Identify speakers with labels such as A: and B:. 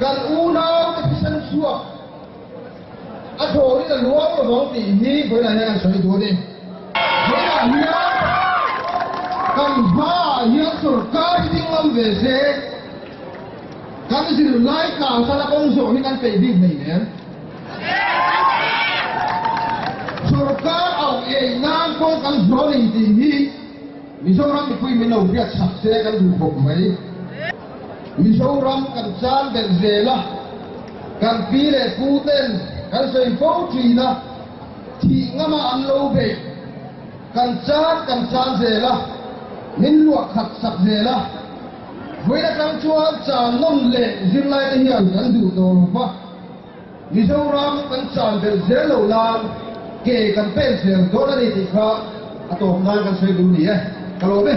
A: Kan unau te thisen chhuak a thawrin a luang lovang tih hi vawilah hian an sawi duh a ni. Vawilah hian kan hmaah hian sorkar hi ding ngam ve se, kan zirlai tlang khan a kawng zawh hi kan peih bik hleih nen. Sorkar auh ei nan pawh kan zuar nei tih hi. Mizoram mipui min lo biak sak se kan duh bawk mai. Mizoram kan chang belh zel a, kan pi leh pu ten kan sawi fo thin a, thih ngam a an lo be. Kan chang kan chang zel a, min luah khat sak zel a. Vawiin atang chuan chang nawn leh zirlai te hian kan duh tawh lo va. Mizoram kan chan belh zel lo nan ke kan pen zel dawn a ni tih kha a tawp nan kan sawi dun ni e, ka lawm e.